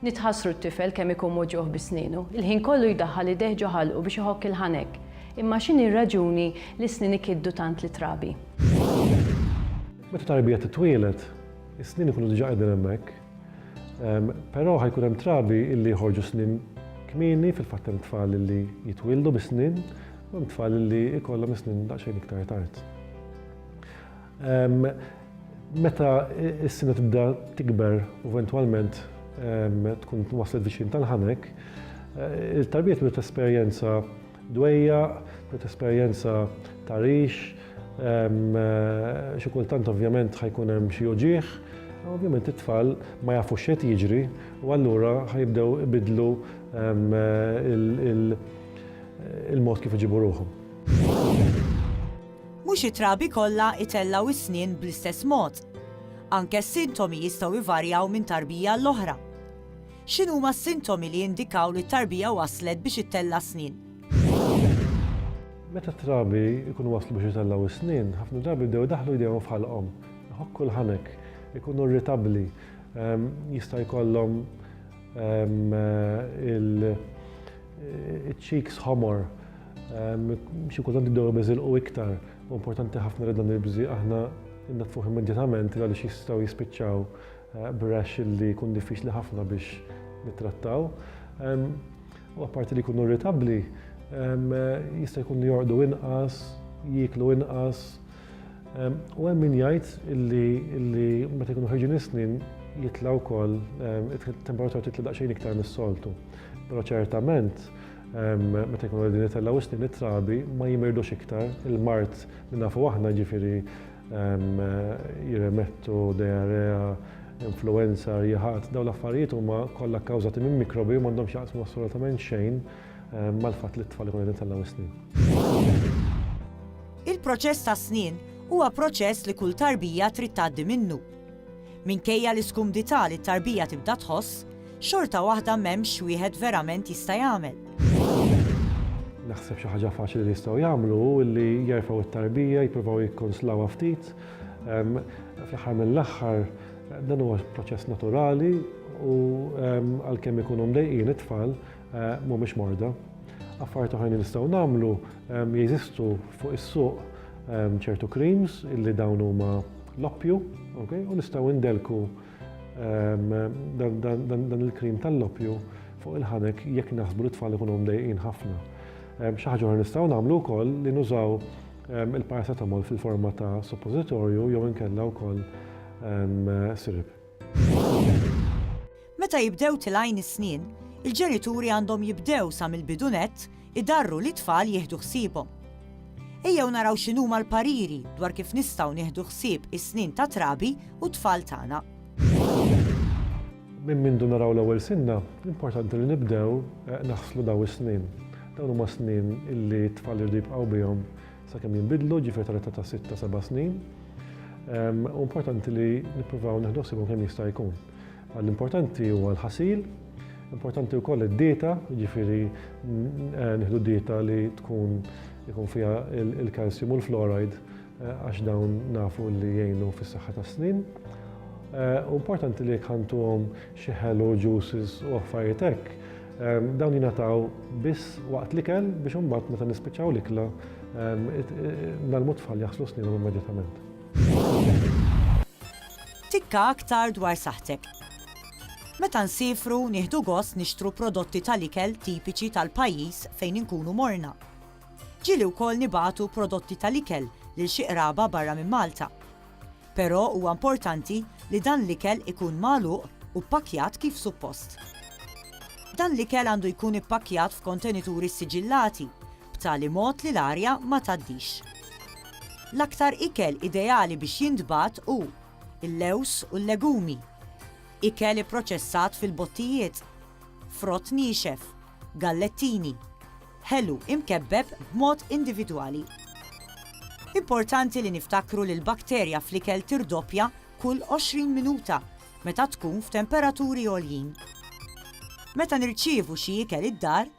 Nitħassru t-tifel kemm ikun moġugħ bi snienu. Il-ħin kollu jdaħħal idejh ġo ħalqu biex iħokk il-ħanek. Imma x'inhi r-raġuni li s-snien ikiddu tant lit-trabi? Meta tarbija titwieled, is-snien ikunu diġà qegħdin hemmhekk. Però ħa jkun hemm trabi li joħorġu snien kmieni, fil-fatt hemm tfal li jitwieldu bi snien, u hemm tfal li jkollhom is-snien daqsxejn iktar tard. Meta s-sina tibda tikber u eventwalment tkun waslet viċin tal-ħanek, il-tarbiet biex tesperjenza dwejja, biex tesperjenza tarix, xi kultant ovvjament ħajkun hemm xi uġieħ, ovvjament it-tfal ma jafux xejn jiġri u allura ħajibdew ibidlu il-mod kif iġibu ruħhom. Mhux it-trabi kollha itellgħu s-snien bl-istess mod. Anke s-sintomi jistgħu jvarjaw minn tarbija għall-oħra. X'inhuma s-sintomi li jindikaw li t-tarbija waslet biex ittella' s-snien? Meta t-trabi jkunu waslu biex itellgħu s-snien, ħafna drabi jibdew idaħħlu jdejhom f'ħalqhom, iħokku l-ħanek, ikunu irritabbli, jista' jkollhom iċ-cheeks ħomor, Xi kultant jibdew ibiżilqu iktar u importanti ħafna li dan il-bżieq aħna nnatfuh immedjatament għaliex jistgħu jispiċċaw b'rash li jkun diffiċli ħafna biex nittrattaw. U apparti li jkunu irritabbli, jista' jkun li jorqdu inqas, jieklu inqas. U hemm min jgħid illi meta jkunu ħerġin is-snin jitla' wkoll it-temperatura titla' daqsxejn iktar mis-soltu. Però ċertament Meta jkunu qegħdin itellgħu is-snin it-trabi ma jimirdux iktar. Il-mart li nafu aħna ġifieri jirremettu diarrea, influenza, riħat, dawn l-affarijiet huma kollha kkawżati minn mikrobi u m'għandhomx jaqsmu assolutament xejn mal-fatt li t-tfal ikunu qegħdin itellgħu is-snin. Il-proċess tas-snien huwa proċess li kull tarbija trid tgħaddi minnu. Minkejja l-iskumdità li t-tarbija tibda tħoss, xorta waħda m'hemmx wieħed verament jista' jagħmel. Naħseb xi ħaġa faċli li jistgħu jagħmlu hu li jerfgħu t-tarbija, jippruvaw jikkonslawha ftit. Fl-aħħar mill-aħħar dan huwa proċess naturali u għalkemm ikunu mdejqin it-tfal, Eh, mhumiex morda. Affarijiet oħrajn li nistgħu nagħmlu ehm, jeżistu fuq is-suq ehm, ċertu creams illi dawn huma l-oppju, u nistgħu ndelku dan il-krim tal-loppju fuq il-ħanek jekk naħsbu li tfal ikunu mdejqin ħafna. Xi ħaġa nistgħu nagħmlu wkoll li nużaw il-paracetamol fil-forma ta' suppositorju jew inkella wkoll sirib. Meta jibdew tilgħin is-snien, il-ġenituri għandhom jibdew sa mill-bidu nett idarru lit-tfal jieħdu ħsiebhom. Ejjew naraw x'inhuma l-pariri dwar kif nistgħu nieħdu ħsieb is-snien tat-trabi u t-tfal tagħna. Minn mindu naraw l-ewwel sinna, importanti li nibdew naħslu dawn is-snien. Dawn huma snien li t-tfal iridu jibqgħu bihom sakemm jinbidlu, ġifieri tal-età ta' sitta, seba' snin. Hu importanti li nippruvaw nieħdu ħsiebhom kemm jista' jkun. L-importanti huwa l-ħasil, importanti wkoll id-dieta, ġifieri eh, nieħdu dieta li tkun ikun fiha il-kalsium u l-fluoride eh, għax dawn nafu li jgħinu fis-saħħa tas-snin. Eh, importanti li kantuhom xi ħelu juices u affarijiet hekk. Eh, dawn jingħataw biss waqt li kell biex imbagħad meta nispiċċaw l-ikla eh, nagħlmu tfal jaħslu sninhom immedjatament. Tikka aktar dwar saħħtek. Meta nsiefru, nieħdu gost nixtru prodotti tal-ikel tipiċi tal-pajjiż fejn inkunu morna. Ġieli wkoll nibagħtu prodotti tal-ikel lil xi qraba barra minn Malta. Però huwa importanti li dan l-ikel ikun magħluq u ppakkjat kif suppost. Dan l-ikel għandu jkun ippakkjat f'kontenituri ssiġillati b'tali mod li l-arja ma tgħaddix. L-aktar ikel ideali biex jintbagħat hu l-lewż u l-legumi, ikel ipproċessat fil-bottijiet, frott niexef, gallettini, ħelu imkebbeb b'mod individwali. Importanti li niftakru li l-bakterja fl-ikel tirdoppja kull 20 minuta meta tkun f'temperaturi għoljin. Meta nirċievu xi ikel id-dar,